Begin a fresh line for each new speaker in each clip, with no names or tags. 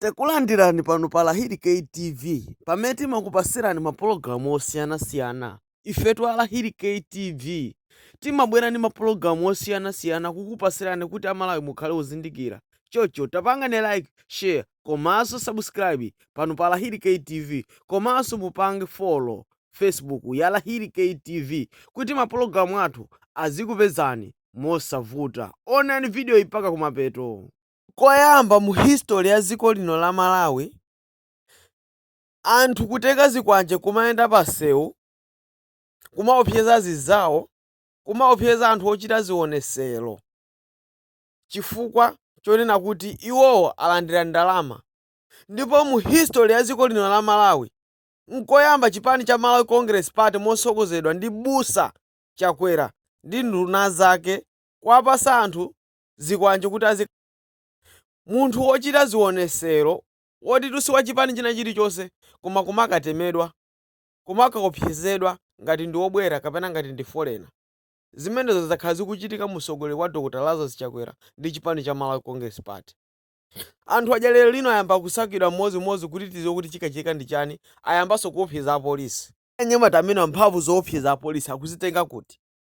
Takulandirani pano pa Lahiri K TV pamene timakupasirani ma pologalamu osiyana siyana. Ifetu a Lahiri K TV timabwera ndi ma pologalamu osiyana siyana kukupasirani kuti a Malawi mukhale ozindikira. Chocho tapangani like, share komaso subscribe pano pa Lahiri K TV komaso mupange follow Facebook ya Lahiri K TV kuti ma pologalamu athu azikupezani mosavuta. Onani video yi mpaka kumapeto. Nkoyamba mu history ya dziko lino la Malawi anthu kutenga zikwanje kumayenda pa nsewu kumaopseza zinzawo, kumaopseza anthu ochita zionesero chifukwa chonena kuti iwowo alandira ndalama ndipo mu history ya dziko lino la Malawi nkoyamba chipani cha Malawi Congress Party motsogozedwa ndi Busa Chakwera ndi nduna zake kuwapatsa anthu zikwanje kuti munthu wochita zionesero woti si wa chipani china chilichonse koma kumakatemedwa kumakaopsezedwa ngati ndi wobwera kapena ngati ndi foreigner zimenezo zakhala zikuchitika mu utsogoleri wa dr lazarus chakwera ndi chipani cha malawi congress party anthu aja lero lino ayamba kusakidwa mmodzimmodzi kuti tiziwe kuti chikachitika ndi chani ayambanso kuopseza apolisi anyamata amenewa mphamvu zoopseza apolisi akuzitenga kuti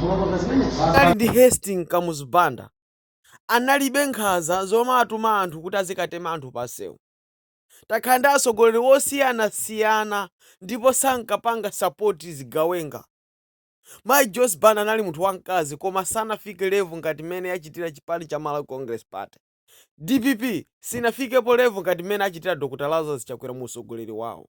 Tinali ndi Hastings Kamuzu Banda analibe nkhaza zomatuma anthu kuti azikatema anthu pansewu. Takhala ndi atsogoleri osiyanasiyana ndipo sankapanga support zigawenga. Mayi Joyce Banda anali munthu wamkazi koma sanafike level ngati mmene yachitira chipani cha Malawi Congress Party. Dpp sinafikepo level ngati mmene achitira Dr Lazarus Chakwera mu utsogoleri wawo.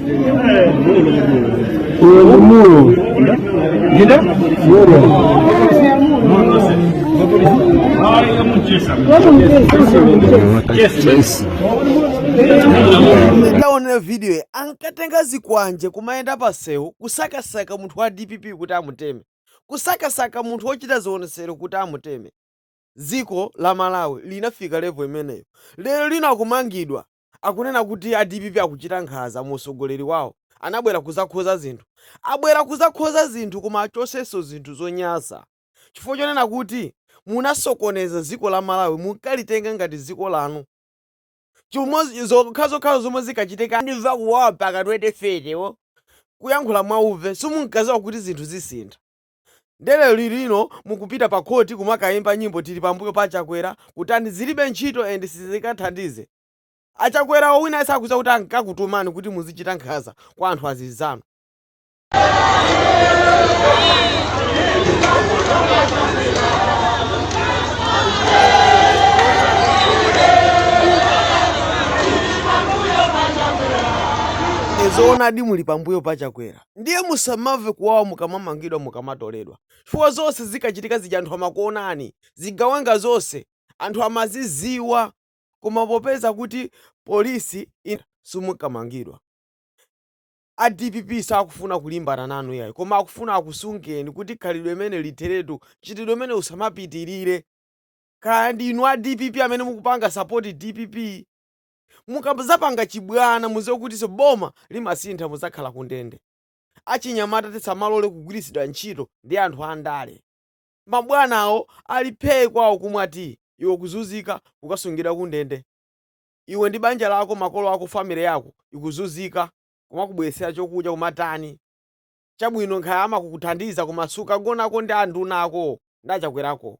Taonerani video iyi ankatenga zikwanje kumayenda pasewu kusakasaka munthu wa dpp kuti amuteme kusakasaka munthu wochita zionetsero kuti amuteme dziko la malawi linafika level imeneyo lero lino akumangidwa akunena kuti a dpp akuchita nkhaza mu utsogoleri wawo. Anabwera kuzakhoza zinthu. Abwera kuzakhoza zinthu koma achosenso zinthu zonyasa chifukwa chonena kuti munasokoneza dziko la Malawi munkalitenga ngati dziko lanu. Chimodzi zokhazo zomwe zikachitika ndimva kuwawa mpaka 2030 wo kuyankhula mwauve simunkaziwa kuti zinthu zisintha. Nde lero lino mukupita pa court kumakaimba nyimbo tili pambuyo pa achakwera kutani zilibe ntchito and sizikathandize achakwerawo wina sakuziwa kuti ankakutumani kuti muzichita nkhaza kwa anthu azinzanu. Zoonadi muli pambuyo pa chakwera. Ndiye musamamve kuwawa mukamamangidwa, mukamatoledwa chifukwa zonse zinkachitika zija anthu amakuonani, zigawenga zonse anthu amazidziwa koma popeza kuti police simunkamangidwa. A dpp sakufuna kulimbana nanu iyayi koma akufuna akusungeni kuti khalidwe limeneli litheretu, mchitidwe umenewu usamapitirire. Kaya ndi inu a dpp amene mukupanga support dpp. Mukazapanga chibwana muziwe kutiso boma limasintha muzakhala kundende. Achinyamata tisamalole kugwiritsidwa ntchito ndi anthu andale. Mabwana awo ali phee kwawo kumwa tea iwe ukuzunzika kukasungidwa kundende. Iwe ndi banja lako makolo ako family yako ikuzunzika kumakubweretsera chokudya kumatani. Chabwino kaya amakukuthandiza koma sukagonako ndi anduna ako ndi achakwera ako.